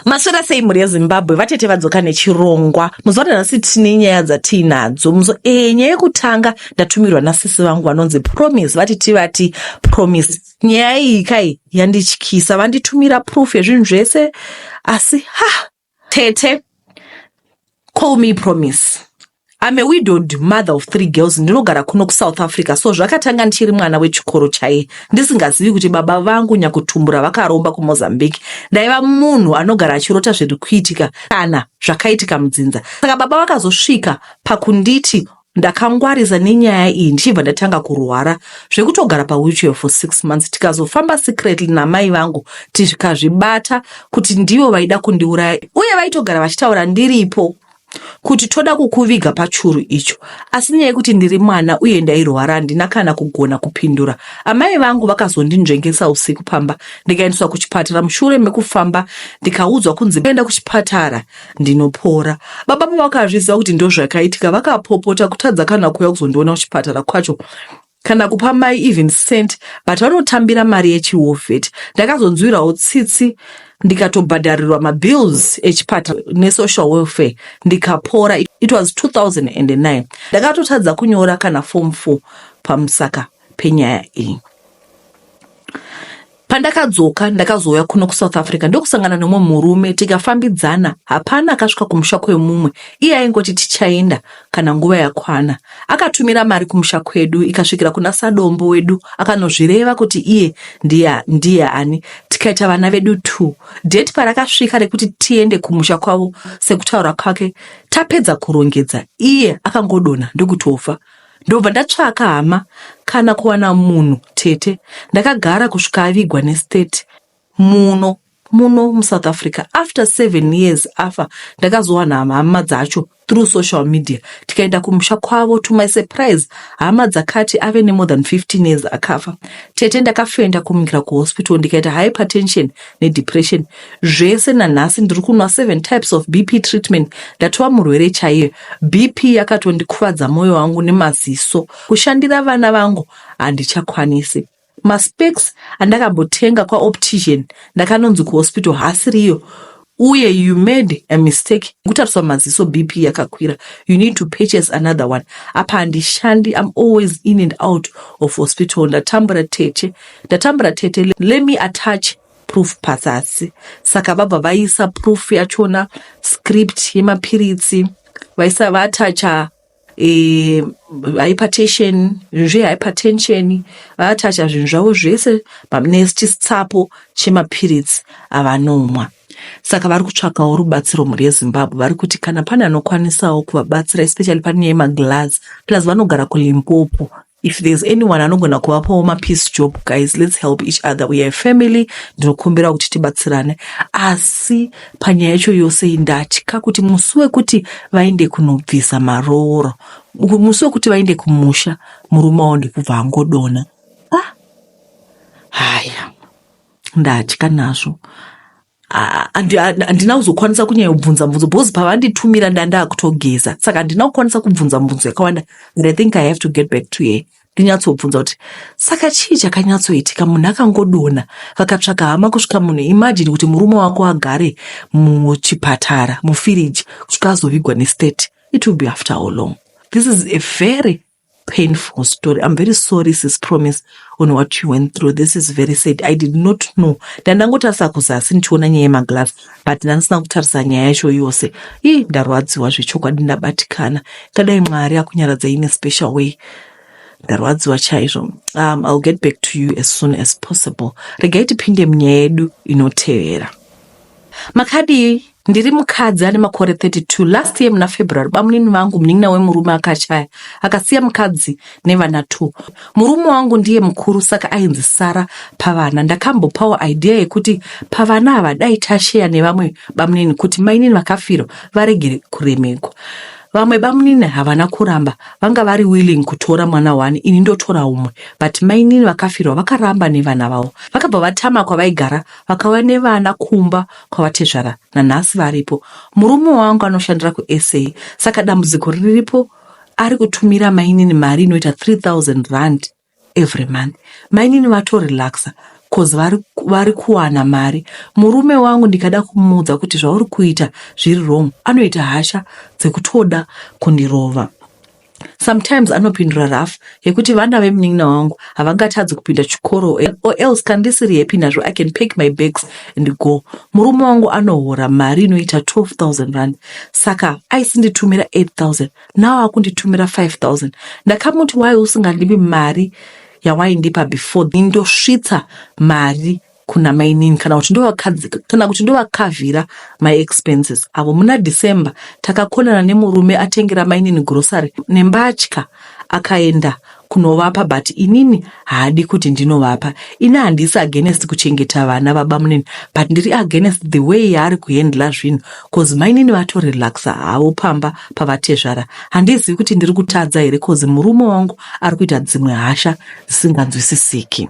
Maswera sei mhuri yezimbabwe vatete vadzoka nechirongwa muzuva ranhasi tine nyaya dzatiinadzo muzo ee eh, nyaya yekutanga ndatumirwa nasisi vangu vanonzi promise vati tivati promise nyaya iyi kai yandityisa vanditumira proof yezvinhu zvese asi ha tete call me promise I'm a widowed mother of three girls ndinogara kuno kuSouth Africa so zvakatanga ndichiri mwana wechikoro chaiye ndisingazivi kuti baba vangu nyakutumbura vakaromba kuMozambique ndaiva munhu anogara achirota zviri kuitika kana zvakaitika mudzinza saka baba vakazosvika pakunditi ndakangwarisa nenyaya iyi ndichibva ndatanga kurwara zvekutogara pawheelchair for six months tikazofamba secretly namai vangu tikazvibata kuti ndivo vaida kundiuraya uye vaitogara vachitaura ndiripo kuti toda kukuviga pachuru icho asi nyaya yekuti ndiri mwana uye ndairwara handina kana kugona kupindura amai vangu vakazondinzvengesa usiku pamba ndikaendeswa kuchipatara mushure mekufamba ndikaudzwa kunzi enda kuchipatara ndinopora baba pavakazviziva kuti ndozvakaitika vakapopota kutadza kana kuuya kuzondiona kuchipatara kwacho kana kupa mai even cent but vanotambira mari yechihovet ndakazonzwirawo tsitsi ndikatobhadharirwa mabills echipata nesocial welfare ndikapora it was 2009 ndakatotadza kunyora kana form 4 pamusaka penyaya iyi Pandakadzoka ndakazouya kuno kuSouth Africa ndokusangana nomwe murume tikafambidzana. Hapana akasvika kumusha kwemumwe, iye aingoti tichaenda kana nguva yakwana. Akatumira mari kumusha kwedu ikasvikira kuna sadombo wedu akanozvireva kuti iye ndiye, ndiye ani. Tikaita vana vedu two. Date parakasvika rekuti tiende kumusha kwavo sekutaura kwake tapedza kurongedza, iye akangodonha ndokutofa. Ndobva ndatsvaka hama kana kuwana munhu tete ndakagara kusvika avigwa nestate muno muno musouth africa after seven years afa ndakazowana hama dzacho through social media tikaenda kumusha kwavo to my surprise hama dzakati ave nemore than 15 years akafa tete ndakafenda kumukira kuhospital ndikaita hypertension nedepression zvese nanhasi ndiri kunwa seven types of bp treatment ndatova murwere chaiye bp yakatondikuvadza mwoyo wangu nemaziso kushandira vana vangu handichakwanisi maspeks andakambotenga kwaoptician ndakanonzi kuhospital hasiriyo uye you made a mistake kutariswa maziso bp yakakwira you need to purchase another one apa handishandi im always in and out of hospital ndatambura tete Ndatambura tete, let me attach proof pazasi. Saka vabva vaisa proof yachona script yemapiritsi vaisa vaatacha e, hypertension zvinhu zvehypertension vaatacha zvinhu zvavo zvese nechisitsapo chemapiritsi avanomwa saka vari kutsvakawo rubatsiro mhuri yezimbabwe vari kuti kana pane anokwanisawo kuvabatsira especially pane yemaglass plus vanogara kulimpopo if there's anyone anogona kuvapawo mapiece job guys let's help each other we are family ndinokumbira kuti tibatsirane asi panyaya yacho yose indatya kuti musi wekuti vaende kunobvisa marooro musi wekuti vaende kumusha murume wavo ndikubva angodona ah. haya ndatya nazvo handina kuzokwanisa kunyanya kubvunza mubvunzo because pavanditumira ndandaa kutogeza saka handina kukwanisa kubvunza mubvunzo yakawanda but i think i have to get back to ye ndinyatsobvunza kuti saka chii chakanyatsoitika munhu akangodona vakatsvaka hama kusvika munhu imajini kuti murume wako agare muchipatara mufiriji kusvika azovigwa nestate it will be after how long this is a very painful story i'm very sorry sis promise on what you went through this is very sad i did not know ndandangotarisa kuzasi ndichiona nyaya yemaglass but ndandisina kutarisa nyaya yacho yose ii ndarwadziwa zvechokwadi ndabatikana kadai mwari akunyaradzai in a special way ndarwadziwa chaizvo um, ill get back to you as soon as possible regai tipinde munyaya yedu inotevera makadii Ndiri mukadzi ane makore 32. Last year muna February bamunini vangu munin'ina wemurume akashaya akasiya mukadzi nevana two. Murume wangu ndiye mukuru saka ainzi Sara pavana. Ndakambopawo idea yekuti pavana ava dai tasheya nevamwe bamunini kuti mainini vakafirwa varegere kuremekwa. Vamwe bamunini havana kuramba vanga vari willing kutora mwana one ini ndotora umwe but mainini vakafirwa vakaramba nevana vavo. Vakabva vatama kwavaigara vakauya nevana kumba kwavatezvara nanhasi varipo. Murume wangu anoshandira kuSA saka dambudziko riripo ari kutumira mainini mari inoita 3000 rand every month. Mainini vatorelaxa cause vari, vari kuwana mari. Murume wangu ndikada kumuudza kuti zvauri kuita zviri wrong anoita hasha dzekutoda kundirova. Sometimes anopindura rough yekuti vana vemunin'ina wangu havangatadzi kupinda chikoro or else kana ndisiri happy nazvo I can pack my bags and go. Murume wangu anohora mari inoita 12,000 rand saka aisinditumira 8,000 now akunditumira 5,000. Ndakamuti why usingandipi mari yawaindipa before ndosvitsa mari kuna mainini kana kuti kana kuti ndovakavhira maexpenses avo muna december takakonana nemurume atengera mainini grocery nembatya akaenda kunovapa but inini haadi kuti ndinovapa ini handisi against kuchengeta vana baba munini but ndiri against the way yaari kuhendla zvinhu bcause mainini vatorelaxa havo pamba pavatezvara handizivi kuti ndiri kutadza here bcause murume wangu ari kuita dzimwe hasha dzisinganzwisisiki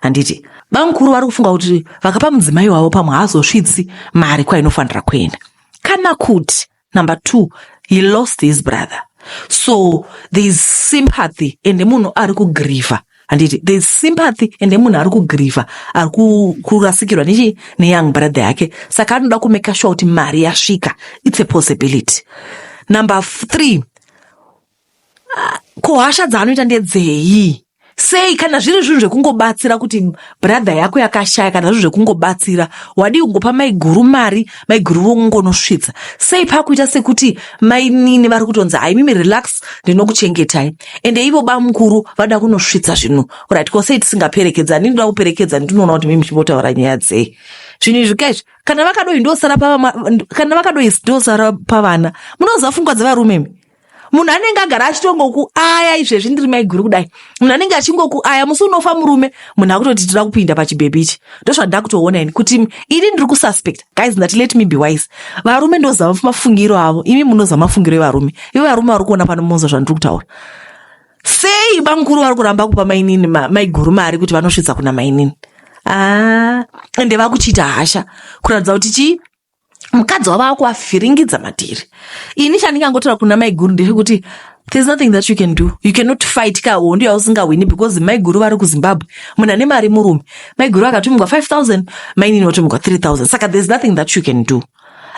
handiti bamukuru vari kufunga kuti vakapa mudzimai wavo pamwe haazosvitsi mari kwainofanira kuenda kana kuti number two he lost his brother so thereis sympathy ende munhu ari kugriva handiti thereis sympathy ende munhu ari kugriva ari kurasikirwa nechi neyoung brother yake saka anoda kumeka sure kuti mari yasvika its a possibility number three ko hasha dzaanoita ndedzei sei kana zviri zvinhu zvekungobatsira kuti brother yako yakashaya kana zvinhu zvekungobatsira wadii kungopa maiguru mari maiguru vongonosvitsa sei pakuita sekuti mainini vari kutonzi haimimi relax ndinokuchengetai ende ivo bamukuru vada kunosvitsa zvinhu right ko sei tisingaperekedzani ndinoda kuperekedzani ndinoona kuti mimi chimbotaura nyaya dzei zvinhu izvi kaizvi kana vakadoi ndosara kana vakadoi ndosara pavana munoziva fungwa dzevarumemi munhu anenge agara achitongokuaya izvezvi ndiri maiguru kudai munhu anenge achingokuaya musi unofa murume munhu akutoti tira kupinda pachibhebhi ichi ndozvandaa kutoona ini kuti ini ndiri kususpect guys ndati let me be wise varume ndozama mafungiro avo imi munoza mafungiro evarume ivo varume vari kuona pano moza zvandiri kutaura sei bamukuru vari kuramba kupa mainini maiguru mari kuti vanosvitsa kuna mainini aa ah, ende vakuchiita hasha kuratidza kuti chii mukadzi wavo akuvavhiringidza matiri ini chandingangotaura kuna maiguru ndechekuti there's nothing that you can do you cannot fight ka hondo yausingahwini because maiguru vari kuzimbabwe munhu ane mari murume maiguru akatumigwa 5000 mainini vatumigwa 3000 saka there's nothing that you can do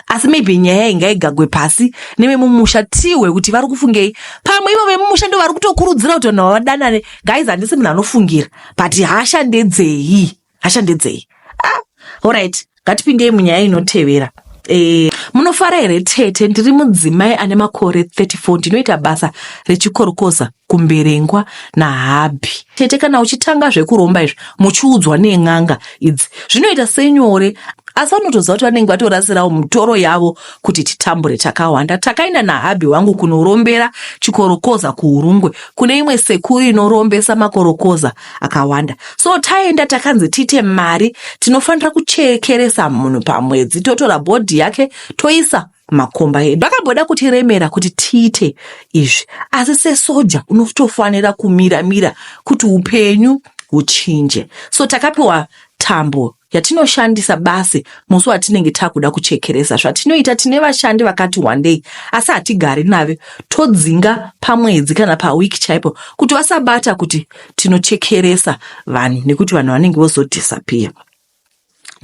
asi maybe nyaya ingaigagwe pasi nevemumusha tihwe kuti vari kufungei pamwe ivo vemumusha ndo vari kutokurudzira kuti vanhu vavadanane guys handisi munhu anofungira but hasha ndedzei hasha ndedzei ah, horit ngatipindei munyaya inotevera e, munofara here tete ndiri mudzimai ane makore 34 ndinoita basa rechikorokoza kumberengwa nahabhi tete kana uchitanga zvekuromba izvi muchiudzwa nen'anga idzi zvinoita senyore asi vanotoziva kuti vanenge vatorasirawo mutoro yavo kuti titambure takawanda takaenda nahabhi wangu kunorombera chikorokoza kuurungwe kune imwe sekuru inorombesa makorokoza akawanda so taenda takanzi tiite mari tinofanira kuchekeresa munhu pamwedzi totora bhodhi yake toisa makomba edu vakamboda kutiremera kuti tiite izvi asi sesoja unotofanira kumira mira kuti upenyu huchinje so takapiwa tambo yatinoshandisa basi musi watinenge takuda kuchekeresa zvatinoita tine vashandi vakati wandei asi hatigari nave todzinga pamwedzi kana pawiki chaipo kuti vasabata kuti tinochekeresa vanhu nekuti vanhu vanenge vozodhisapiya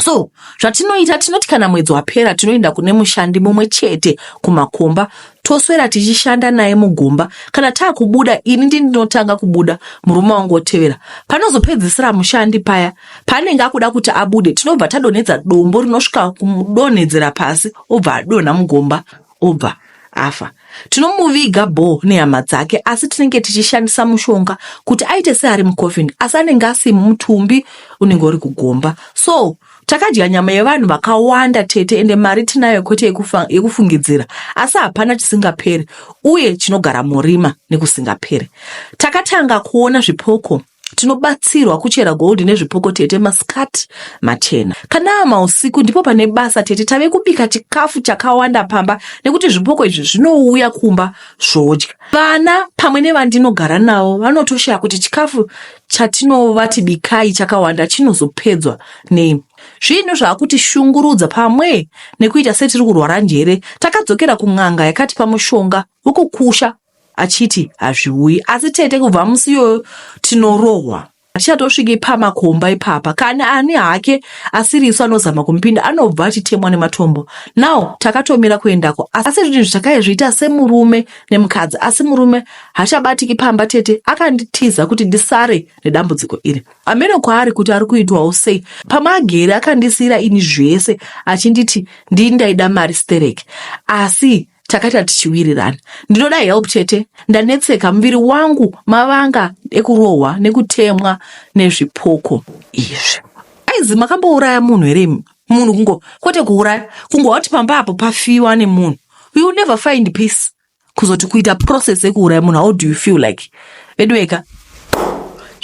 so zvatinoita tinoti kana mwedzi wapera tinoenda kune mushandi mumwe chete kumakomba toswera tichishanda naye mugomba kana taakubuda ini ndindinotanga kubuda murume wangu otevera panozopedzisira mushandi paya Paanenge akuda kuti abude, tinobva tadonhedza dombo rinosvika kumudonhedzera pasi, obva adonha mugomba, obva afa. Tinomuviga bho nehama dzake, asi tinenge tichishandisa mushonga kuti aite seari mucoffin, asi anenge asi mutumbi unenge uri kugomba. So takadya nyama yevanhu vakawanda tete, ende mari tinayo kwete yekufa, yekufungidzira, asi hapana chisingaperi uye chinogara murima nekusingaperi. Takatanga kuona zvipoko tinobatsirwa kuchera gold nezvipoko tete masikati machena kana mausiku ndipo pane basa tete tave kubika chikafu chakawanda pamba nekuti zvipoko izvi zvinouya kumba zvodya vana pamwe nevandinogara navo vanotoshaya kuti chikafu chatinovati bikai chakawanda chinozopedzwa nei zvinhu zvaakuti shungurudza pamwe nekuita setiri kurwara njere takadzokera kun'anga yakatipa mushonga wekukusha achiti hazviuyi asi tete kubva musi iyoyo tinorohwa hatichatosviki pamakomba ipapa kana ani hake asiri isu anozama kumupinda anobva achitemwa nematombo now takatomira kuendako asi zvinhu zvitakaizviita semurume nemukadzi asi murume hachabatiki pamba tete akanditiza kuti ndisare nedambudziko iri ameno kwaari kuti ari kuitwawo sei pamagere akandisiyira ini zvese achinditi ndii ndaida mari stereki asi takaita tichiwirirana ndinoda help chete ndanetseka muviri wangu mavanga ekurohwa nekutemwa nezvipoko izvi aizi makambouraya munhu here munhu kungo kwete kuuraya kungo wati pamba apo pafiwa nemunhu you never find peace kuzoti kuita process yekuuraya munhu how do you feel like veduweka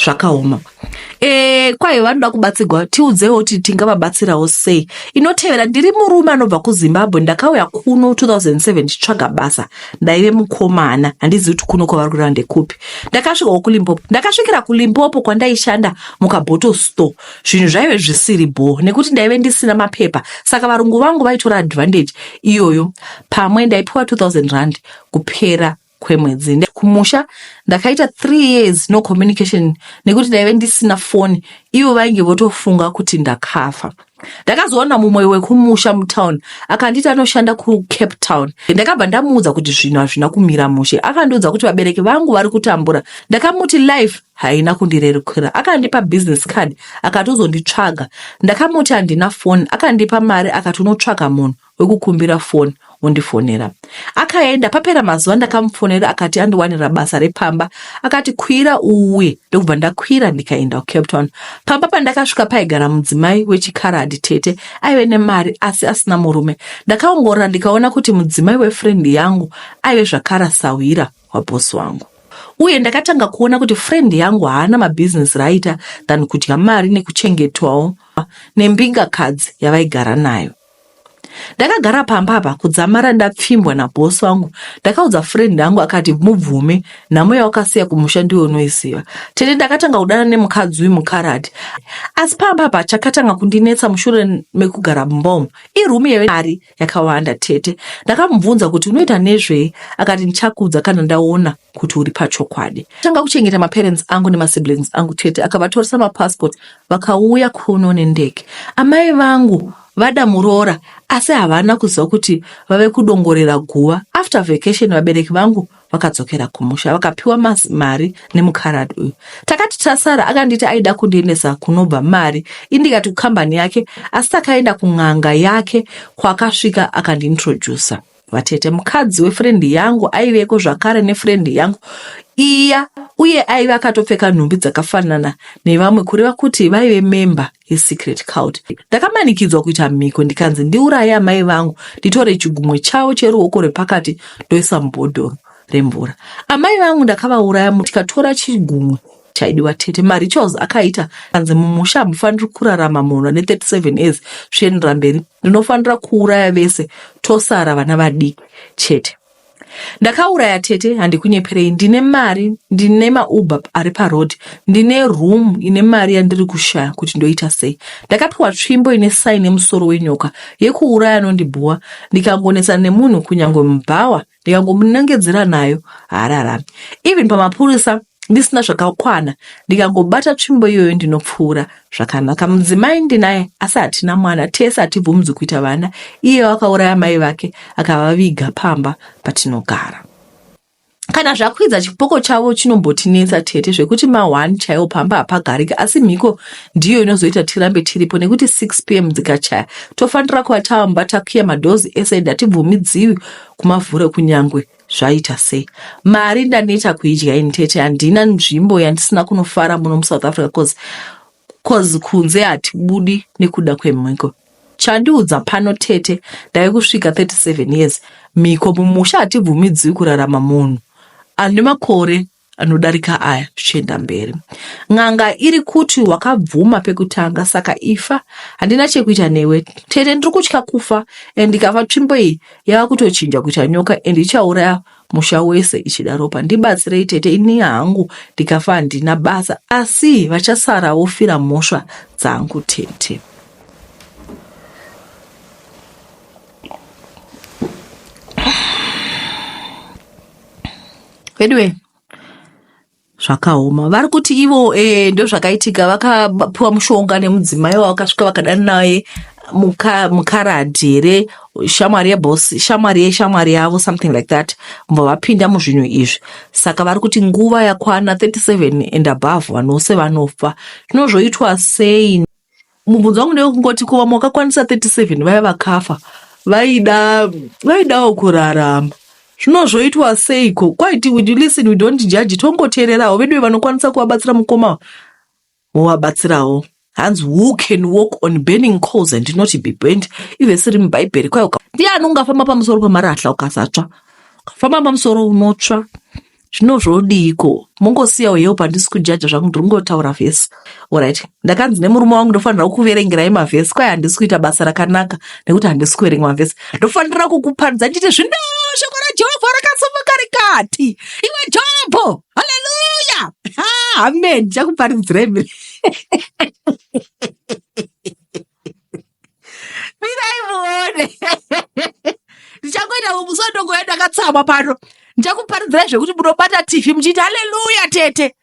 zvakaoma Eh, kwayo vanoda kubatsirwa tiudzewo kuti tingavabatsirawo sei inotevera ndiri murume anobva kuzimbabwe ndakauya kuno 2007 ndichitsvaga basa ndaive mukomana handizivi kuti kuno kwavari kureva ndekupi ndakasvikawo kulimpopo ndakasvikira kulimpopo kwandaishanda mukabottle store zvinhu zvaive zvisiri bho nekuti ndaive ndisina mapepa saka varungu vangu vaitora advantage iyoyo pamwe ndaipiwa 2000 rand kupera kwemwedzi kumusha ndakaita three years no communication nekuti ndaive ndisina foni ivo vainge votofunga kuti ndakafa ndakazoona mumwe wekumusha mutown akanditi anoshanda kucape town ndakabva ndamuudza kuti zvinhu hazvina kumira mushe akandiudza kuti vabereki vangu vari kutambura ndakamuti life haina kundirerukira akandipa business card akatozonditsvaga ndakamuti handina foni akandipa mari akatonotsvaga munhu wekukumbira foni wondifonera akaenda papera mazuva ndakamufonera akati andiwanira basa repamba akati kwira uwe ndokubva ndakwira ndikaenda kucape town pamba pandakasvika paigara mudzimai wechikaradi tete aive nemari asi asina murume ndakaongorora ndikaona kuti mudzimai wefrendi yangu aive zvakara sahwira wabhosi wangu uye ndakatanga kuona kuti friend yangu haana mabhizinesi raaita than kudya mari nekuchengetwawo nembingakadzi yavaigara nayo ndakagara pamba apa kudzamara ndapfimbwa nabhosi wangu ndakaudza friend yangu akati mubvume nhamo yawakasiya kumusha ndiwe unoiziva tete ndakatanga kudana nemukadzi uyu mukarati asi pamba apa chakatanga kundinetsa mushure mekugara mumbomo iroom yemari yakawanda tete ndakamubvunza kuti unoita nezvei akati ndichakuudza kana ndaona kuti uri pachokwadi tanga kuchengeta maparents angu nemasiblings angu tete akavatoresa mapassport vakauya kuno nendege. Amai vangu vada muroora asi havana kuziva kuti vave kudongorera guva. After vacation vabereki vangu vakadzokera kumusha vakapiwa mari nemukarad uyu. Takati tasara akanditi aida kundiendesa kunobva mari indikati kukambani yake asi takaenda kun'anga yake kwakasvika akandiintroducer. vatete mukadzi wefrendi yangu aiveko zvakare nefrendi yangu iya uye aive akatopfeka nhumbi dzakafanana nevamwe kureva kuti vaive memba yesecret cult ndakamanikidzwa kuita mhiko ndikanzi ndiuraye amai vangu nditore chigumwe chavo cheruoko rwepakati ndoisa mubhodhoro remvura amai vangu ndakavauraya tikatora chigumwe chaidiwa tete marituals akaita anzi mumusha hamufaniri kurarama munhu ane 37 years zvichienderera mberi ndinofanira kuuraya vese tosara vana vadiki chete ndakauraya tete handikunyeperei ndine mari ndine mauber ari paroad ndine room ine mari yandiri kushaya kuti ndoita sei ndakapiwa tsvimbo ine saini yemusoro wenyoka yekuuraya anondibhuwa ndikangonetsana nemunhu kunyange mubhawa ndikangomunongedzera nayo haararami even pamapurisa ndisina zvakakwana ndikangobata tsvimbo iyoyo ndinopfuura zvakanaka mudzimai ndinaye asi hatina mwana tese hatibvumudzi kuita vana iye wakauraya mai vake akavaviga pamba patinogara kana zvakwidza chipoko chavo chinombotinetsa tete zvekuti mahwani chaiwo pamba hapagariki asi mhiko ndiyo inozoita tirambe tiripo nekuti 6 pm dzikachaya tofanira kuva tava mumba takiya madhozi ese ende hatibvumidziwi kumavhuro kunyangwe zvaita sei mari ndaneta kuidya ini tete handina nzvimbo yandisina kunofara muno musouth africa cause cause kunze hatibudi nekuda kwemhiko chandiudza pano tete ndave kusvika 37 years mhiko mumusha hatibvumidziwi kurarama munhu ane makore anodarika aya zvichienda mberi n'anga iri kuti wakabvuma pekutanga saka ifa handina chekuita newe tete ndiri kutya kufa and ndikafa tsvimbo iyi yava kutochinja kuita nyoka and ichauraya musha wese ichida ropa ndibatsirei tete ini hangu ndikafa handina basa asi vachasara wofira mhosva dzangu tete Veduwe zvakaoma vari kuti ivo eh, ndozvakaitika vakapiwa mushonga nemudzimai wavo vakasvika vakadana naye muka- mukaradhi here shamwari yebosi shamwari yeshamwari yavo something like that mbo vapinda muzvinhu izvi saka vari kuti nguva yakwana 37 and above vanhu vose vanofa zvinozvoitwa sei Mubvunzo wangu ndewekungoti ko vamwe vakakwanisa 37 vaya vakafa vaida vaidawo kurarama zvino zvoitwa seiko kwaiti we listen we don't judge tongoteererawo veduwe vanokwanisa kuvabatsira mukoma wovabatsirawo hanzi who can walk on burning coals and not be burnt ive siri mubhaibheri kwayo ndiani ungafamba pamusoro pemarahla ukasatsva ukafamba pamusoro unotsva zvino zvodiiko mongosiyawo hewo pandisi kujaja zvangu ndiri kungotaura vhesi orit ndakanzi nemurume wangu ndofanira kukuverengerai mavhesi kwaye handisi kuita basa rakanaka nekuti handisi kuverenga mavhesi ndofanira kukuparidza ndichiti zvino shoko rajehovha rakasimuka rikati iwe jobho haleluya amen ndichakuparidzirai mirai muone ndichangoita musodongoya ndakatsamwa pano ndichakuparidzirai zvekuti munobata tv muchiita haleluya tete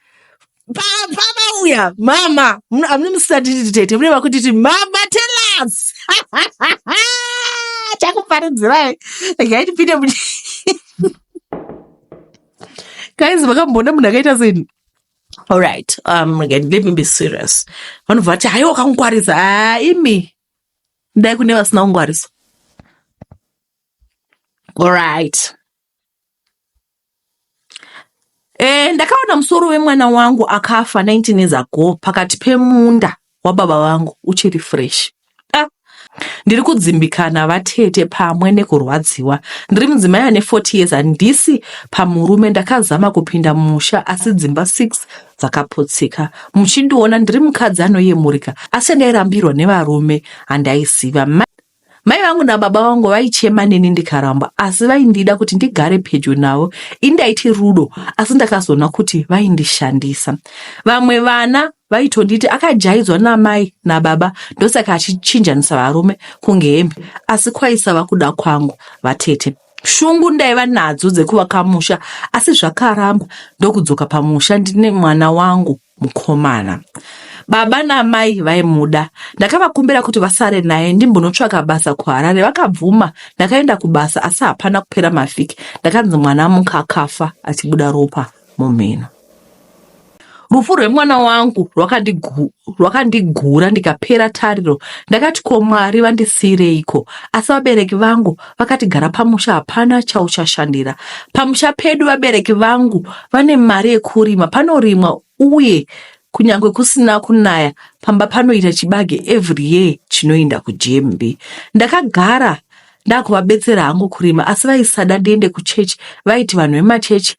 Pa- pamauya mama Muna- hamuna musisatiti tete mune vakutiti mama telas chakuparidzirai regai tipinde mu guys makamboona munhu akaita seni Alright, um, again, let me be serious. Vanobva vati haiwa wakangwarisa. Ah, imi dai kune vasina kungwarisa. Alright. Eh, ndakaona musoro wemwana wangu akafa 19 years ago pakati pemunda wababa vangu uchiri fresh ah, ndiri kudzimbikana vatete pamwe nekurwadziwa ndiri mudzimai ane 40 years handisi pamurume ndakazama kupinda musha asi dzimba 6 dzakaputsika muchindiona ndiri mukadzi anoyemurika asi ndairambirwa nevarume handaiziva Mai vangu nababa vangu vaichema neni ndikaramba asi vaindida kuti ndigare pedyo navo. Indaiti rudo asi ndakazoona kuti vaindishandisa. Vamwe vana vaitonditi akajaidzwa namai nababa ndosaka achichinjanisa varume kunge hembe asi kwaisava kuda kwangu vatete. shungu ndaiva nadzo dzekuvaka musha asi zvakaramba ndokudzoka pamusha ndine mwana wangu mukomana baba namai vaimuda ndakavakumbira kuti vasare naye ndimbonotsvaka basa kuharare vakabvuma ndakaenda kubasa asi hapana kupera mavhiki ndakanzi mwana mukakafa achibuda ropa mumhino. Rufu rwemwana wangu rwakandigura ndikapera tariro. Ndakati ko Mwari vandisiireiko? Asi vabereki vangu vakati gara pamusha, hapana chauchashandira pamusha pedu. Vabereki vangu vane mari yekurima, panorimwa uye kunyange kusina kunaya pamba panoita chibage every year chinoenda kujembi. Ndakagara ndakuvabetsera hangu kurima asi vaisada ndiende kuchechi vaiti vanhu vemachechi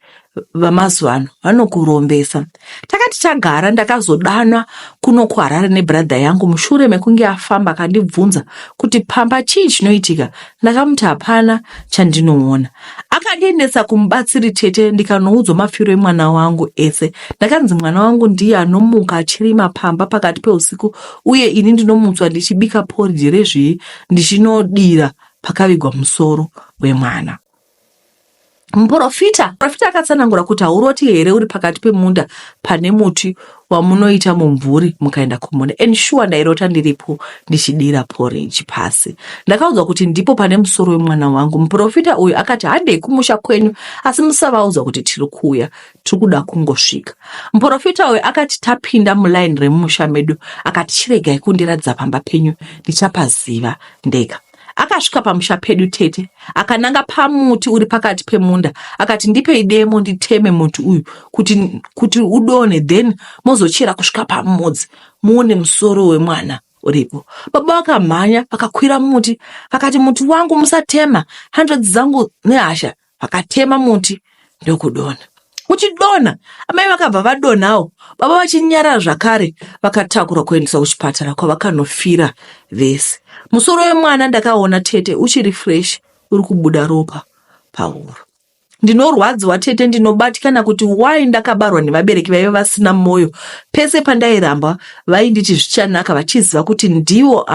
vamazuva ano vanokurombesa takati tagara ndakazodanwa kuno kuharare nebradha yangu mushure mekunge afamba akandibvunza kuti pamba chii chinoitika ndakamuti hapana chandinoona akandiendesa kumubatsiri tete ndikanoudzwa mafiro emwana wangu ese ndakanzi mwana wangu ndiye anomuka achirima pamba pakati peusiku uye ini ndinomutswa ndichibika poridhi rezvii ndichinodira pakavigwa musoro wemwana. Muprofita profita akatsanangura kuti hauroti here uri pakati pemunda pane muti wamunoita mumvuri mukaenda kumunda and shuwa ndairota ndiripo ndichidira porridge pasi ndakaudzwa kuti ndipo pane musoro wemwana wangu muprofita uyu akati handei kumusha kwenyu asi musavaudza kuti tiri kuuya tiri kuda kungosvika. Muporofita uyu akati tapinda mulaini remumusha medu akati chiregai kundiratidza pamba penyu ndichapaziva ndega. Akasvika pamusha pedu tete akananga pamuti uri pakati pemunda akati ndipei demo nditeme muti uyu kuti, kuti udone then mozochera kusvika pamudzi muone musoro wemwana uripo. Baba vakamhanya vakakwira muti vakati muti wangu musatema hanzvadzi dzangu nehasha vakatema muti ndokudonha. Kuchidonha, amai vakabva vadonhawo, baba vachinyarara zvakare, vakatakurwa kuendeswa kuchipatara kwavakanofira vese. Musoro wemwana ndakaona tete uchiri fresh uri kubuda ropa pahuro. Ndinorwadziwa tete, ndinobatikana kuti why ndakabarwa nevabereki vaive vasina mwoyo. Pese pandairambwa vainditi zvichanaka vachiziva kuti ndivo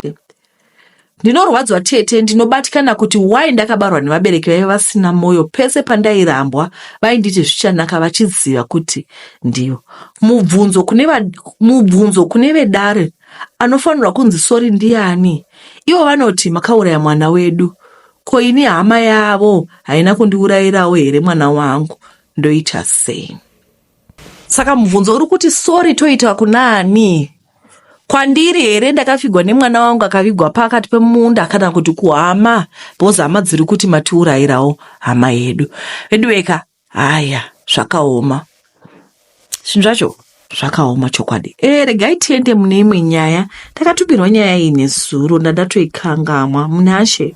Ndinorwadzwa tete, ndinobatikana kuti why ndakabarwa nevabereki vaive vasina moyo. Pese pandairambwa vainditi zvichanaka vachiziva kuti ndivo. Mubvunzo kune, va, mubvunzo kune vedare anofanirwa kunzi sori ndiani? Ivo vanoti makauraya mwana wedu. Ko ini hama yavo haina kundiurayirawo here mwana wangu? Ndoita sei? saka mubvunzo uri kuti sori toita kunaani kwandiri here ndakafigwa nemwana wangu akavigwa pakati pemunda kana kuti kuhama bhozi hama dziri kuti matiurayirawo hama yedu veduweka haya zvakaoma zvinhu zvacho zvakaoma chokwadi e eh, regai tiende mune imwe nyaya ndakatukirwa nyaya iyi nezuro ndandatoikangamwa munashe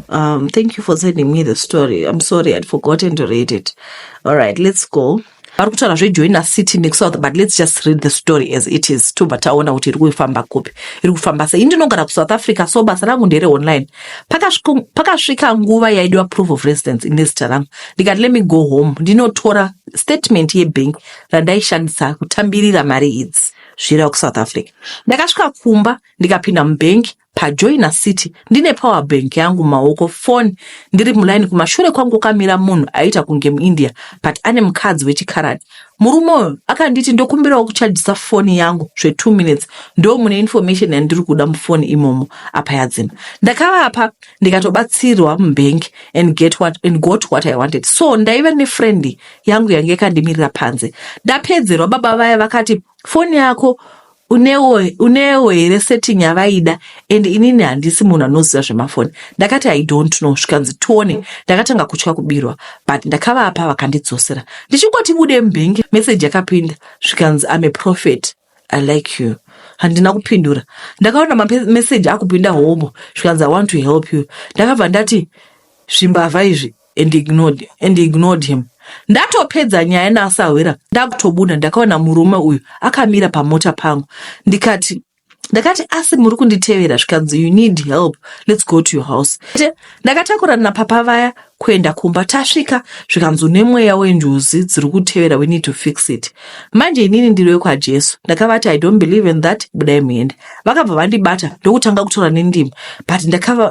Um, thank you for sending me the story. I'm sorry, I'd forgotten to read it. All right, let's go. vari kutaura zvejoina city nexouth but let's just read the story as it is tobva taona kuti iri kufamba kupi iri kufamba sei ndinogara kusouth africa so basa rangu ndere online pakasvika nguva yaidiwa proof of residence ine zita rangu ndikati let me go home ndinotora statement yebank randaishandisa kutambirira mari idzi zvira kusouth africa ndakasvika kumba ndikapinda mubank pajoina city ndine power bank yangu mumaoko foni ndiri mulaini kumashure kwangu kukamira munhu aiita kunge muindia but ane mukadzi wechikaradi murume uyo akanditi ndokumbirawo kuchajisa foni yangu zve2 minutes ndo mune information yandiri kuda mufoni imomo apa yadzima ndakavapa ndikatobatsirwa mubhengi and, get what, and got what i wanted so ndaiva nefrendi yangu yange yakandimirira panze ndapedzerwa baba vaya vakati foni yako unewo unewo here setting yavaida and inini handisi munhu anoziva zvemafoni ndakati i don't know zvikanzi tione ndakatanga kutya kubirwa but ndakavapa vakandidzosera ndichingoti bude mubhengi meseji yakapinda zvikanzi am a prophet i like you handina kupindura ndakaona mameseji akupinda homo zvikanzi i want to help you ndakabva ndati zvimbavha izvi and ignored, and ignored him ndatopedza nyaya naasahwira ndakutobuda ndakaona murume uyu akamira pamota pangu ndikati ndakati asi muri kunditevera zvikanzi you need help let's go to your house ndakatakurana napapa vaya kuenda kumba tasvika zvikanzi une mweya wenjuzi dziri kutevera we need to fix it manje inini ndiri wekwajesu ndakavati i don't believe in that budai muende vakabva vandibata ndokutanga kutora nendimi but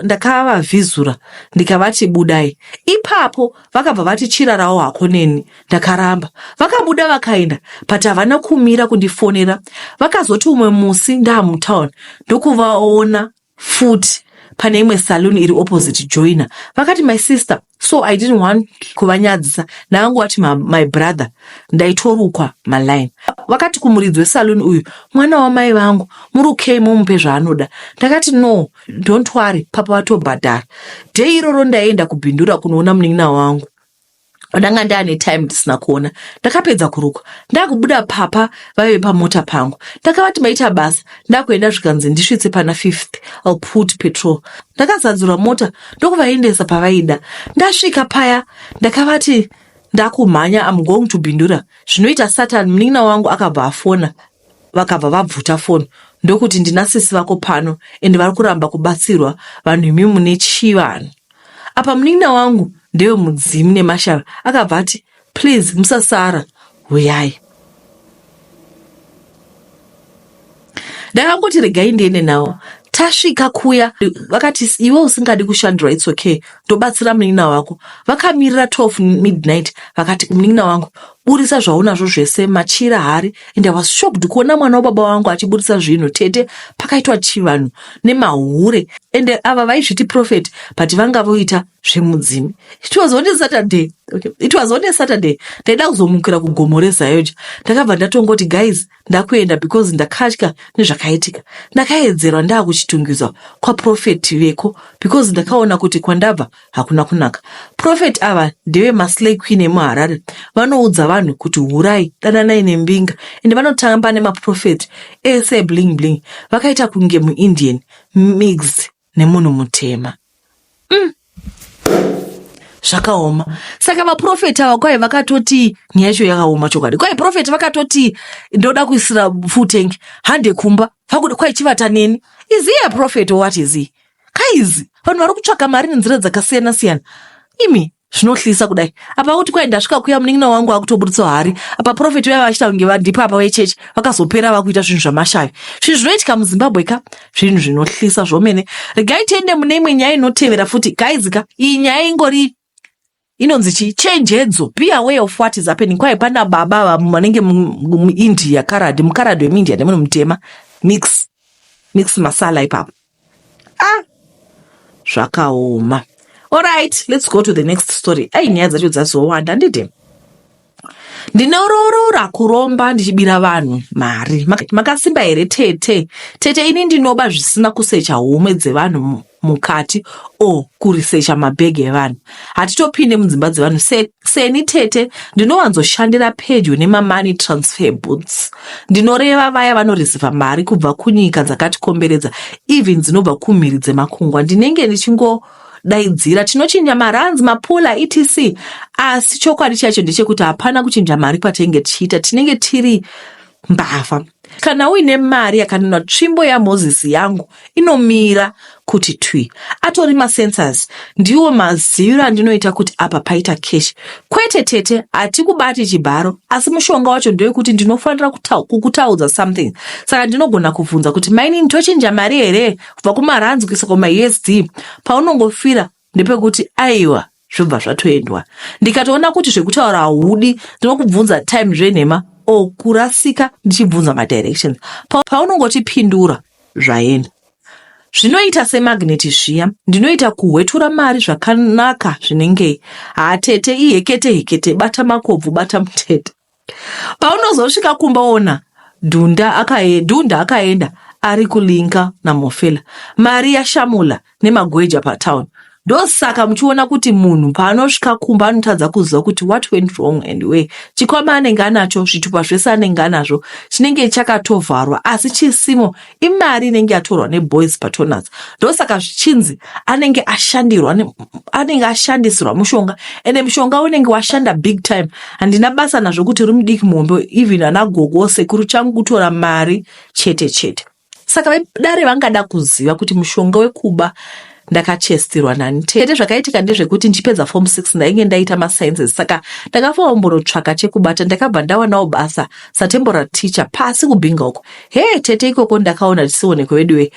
ndakavavhizura ndaka ndikavati budai ipapo vakabva vati chirarawo hako neni ndakaramba vakabuda vakaenda but havana kumira kundifonera vakazoti umwe musi ndaamutown ndokuvaona futi pane imwe saloon iri opposite joiner vakati my sister so i didn't want kuvanyadzisa naangu wati my, my brother ndaitorukwa maline vakati kumuridzi wesaloon uyu mwana wamai vangu murukei mumupe zvaanoda ndakati no don't worry papa vatobhadhara day iroro ndaienda kubhindura kunoona munin'ina wangu ndanga ndaane time ndisina kuona ndakapedza kurukwa ndakubuda papa vaive pamota pangu ndakavati maita basa ndakuenda zvikanzi ndisvitse pana fifth I'll put petrol ndakazadzura mota ndokuvaendesa pavaida ndasvika paya ndakavati ndakumhanya I'm going to bhindura zvinoita satan munin'ina wangu akabva afona vakabva vabvuta foni ndokuti ndina sisi vako pano ende vari kuramba kubatsirwa vanhu imi mune chii vanhu apa munin'ina wangu ndewe mudzimu nemashara akabva ati please musasara huyai ndakangoti regai ndiende nawo tasvika kuya vakati iwe usingadi kushandira its okay ndobatsira munin'ina wako vakamirira 12 midnight vakati munin'ina wangu buritsa zvaunazvo zvese machira hari and i was shocked kuona mwana wababa wangu achiburitsa zvinhu tete pakaitwa chivanhu nemahure and ava vaizviti prophet but vanga voita zvemudzimi it was on a saturday okay. it was on a saturday ndaida kuzomukira kugomo rezayoja ndakabva ndatongoti guys ndakuenda because ndakatya nezvakaitika ndakaedzerwa ndakuchitungidzwa kwaprofet veko because ndakaona kuti kwandabva hakuna kunaka profet ava ndeve maslay queen emuharare vanoudza vanhu kuti hurai dananai nembinga ende vanotamba nemaprofet ese bling bling vakaita kunge muindian mixed nemunhu mutema mm. zvakaoma saka vaprofeti ava kwai vakatoti nyaya yacho yakaoma chokwadi kwai profeti vakatoti ndoda kuisira full tank hande kumba vakuda kwai chivata neni is he a prophet or what is he kaizi vanhu vari kutsvaka mari nenzira dzakasiyana siyana imi zvinohlisa kudai apa kuti kwai ndasvika kuya munin'ina wangu akutoburitsa hari apa profeti vaiva vachita kunge vandipa apa vechechi vakazopera vakuita zvinhu zvamashavi zvinhu zvinoitika muzimbabwe ka zvinhu zvinohlisa zvomene regai tiende mune imwe nyaya inotevera futi gaizika iyi nyaya ingori inonzi chii chenjedzo be aware of what is happening kwai pana baba vamwe vanenge muindia karadi mukaradi wemuindia nemunhu mutema mix mix masala ipapo ah zvakaoma Alright, let's go to the next story. Ai nyaya dzacho dzazowanda handiti? Ndinoroorora kuromba ndichibira vanhu mari. Makasimba here tete? Tete ini ndinoba zvisina kusecha home dzevanhu mukati o kurisecha mabhegi evanhu. Hatitopinde mudzimba dzevanhu se Seni tete ndinowanzoshandira pedyo nemamoney transfer booths, ndinoreva vaya vanoreceiver mari kubva kunyika dzakatikomberedza even dzinobva kumhiri dzemakungwa. Ndinenge ndichingodaidzira tinochinja marands, mapula etc asi chokwadi chacho ndechekuti hapana kuchinja mari kwatainge tichiita, tinenge tiri mbavha. Kana uine mari yakanena tsvimbo yaMoses yangu inomira kuti twi. Atori masensors ndiwo maziviro andinoita kuti apa paita cash. Kwete tete, hatikubati chibharo asi mushonga wacho ndewekuti ndinofanira kukutaudza something. Saka ndinogona kubvunza kuti mainini tochinja mari here kubva kumarands kuisa kumaUSD paunongofira ndepekuti aiwa zvobva zvatoendwa ndikatoona kuti zvekutaura haudi ndinokubvunza time zvenhema o oh, kurasika ndichibvunza madirections paunongotipindura zvaenda zvinoita semagneti zviya ndinoita kuhwetura mari zvakanaka zvinengei hatete ihekete hekete bata makobvu bata mutete paunozosvika kumba ona dhunda akae, dhunda akaenda ari kulinka namofela mari yashamula nemagweja patown ndosaka muchiona kuti munhu paanosvika kumba anotadza kuziva kuti what went wrong and where chikwama anenge anacho zvitupa zvese anenge anazvo chinenge chakatovharwa asi chisimo imari inenge yatorwa neboys patonats ndosaka zvichinzi anenge ashandirwa anenge ashandisirwa mushonga ende mushonga unenge washanda big time handina basa nazvo kuti uri mudiki muhombe even ana gogo sekuru changu kutora mari chete chete saka vedare vangada kuziva kuti mushonga wekuba ndakachestirwa nani tete zvakaitika ndezvekuti ndichipedza form 6 ndainge ndaita masciences saka ndakafaombonotsvaka chekubata ndakabva ndawanawo basa satemporal teacher pasi kubhinga uko hee tete ikoko ndakaona tisioneko veduwe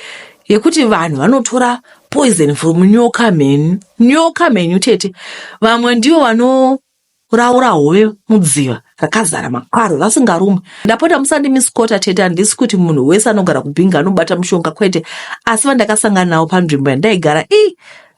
yekuti vanhu vanotora poison from nyoka mhenyu nyoka mhenyu tete vamwe ndivo vano kuraura hove mudziva rakazara makwaro vasingarumwe ndapota musandimisikota tete handisi kuti munhu wese anogara kubhinga anobata mushonga kwete asi vandakasangana navo panzvimbo yandaigara i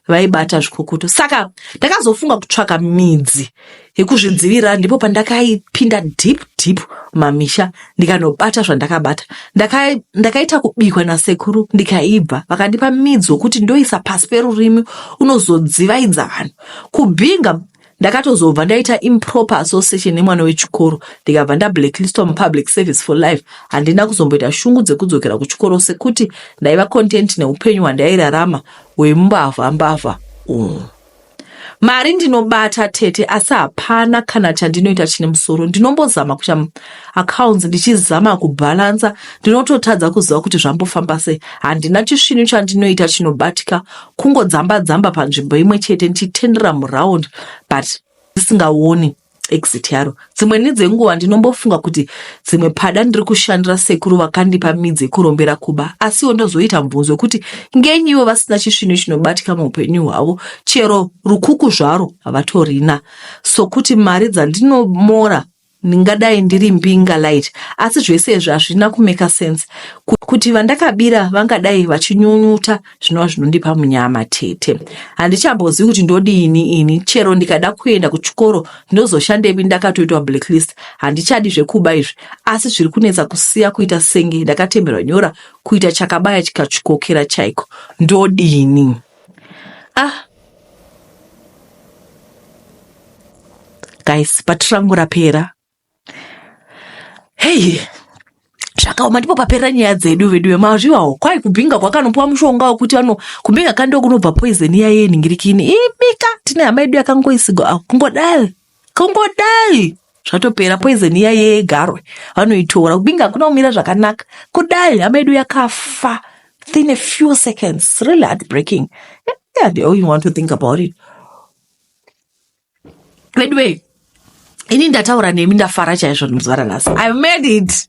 vaibata zvikukutu saka ndakazofunga kutsvaka midzi yekuzvidzivirira ndipo pandakaipinda deep deep mamisha ndikanobata zvandakabata ndakaita ndaka kubikwa nasekuru ndikaibva vakandipa midzi wokuti ndoisa pasi perurimi unozodzivaidza vanhu kubhinga ndakatozobva ndaita improper association nemwana wechikoro ndikabva ndablackliswa mupublic service for life handina kuzomboita shungu dzekudzokera kuchikoro sekuti ndaiva content neupenyu hwandairarama hwembavha mbavha umu mari ndinobata tete asi hapana kana chandinoita chine musoro ndinombozama kuita accounts ndichizama kubhalansa ndinototadza kuziva kuti zvambofamba sei handina chisvinu chandinoita chinobatika kungodzamba dzamba panzvimbo imwe chete ndichitendera muround but ndisingaoni exit yaro dzimwe nedzenguva ndinombofunga kuti dzimwe pada ndiri kushandira sekuru vakandipa midzi yekurombera kuba asiwo ndozoita mubvunzo wekuti ngenyi ivo vasina chisvinu chinobatika muupenyu hwavo chero rukuku zvaro havatorina sokuti mari dzandinomora Ndingadai ndiri mbinga light asi zvese izvi hazvina kumeka sense kuti vandakabira vangadai vachinyunyuta zvinova zvinondipa munyama tete. Handichambozivi kuti ndodiini ini chero ndikada kuenda kuchikoro ndozoshandepi ndakatoitwa blacklist handichadi zvekuba izvi asi zviri kunetsa kusiya kuita senge ndakatemerwa nyora kuita chakabaya chikachikokera chaiko ndodini. ah guys bhati rangu rapera heyi zvakaoma ndipo paperera nyaya dzedu vedu vemazvivawo kwai kubhinga kwakanopiwa mushonga wekuti ano kubhinga kandiwo kunobva poizeni iya yenhingirikini imika tine hama yedu yakangoisigwa akungodai kungodai zvatopera poison iya yegarwe vanoitora kubinge hakuna kumira zvakanaka kudai hama yedu yakafa within a few seconds really heartbreaking yeah, the only want to think about it veduwei ini ndataura nemi ndafara chaizvo ndimuzvara nhasi i made it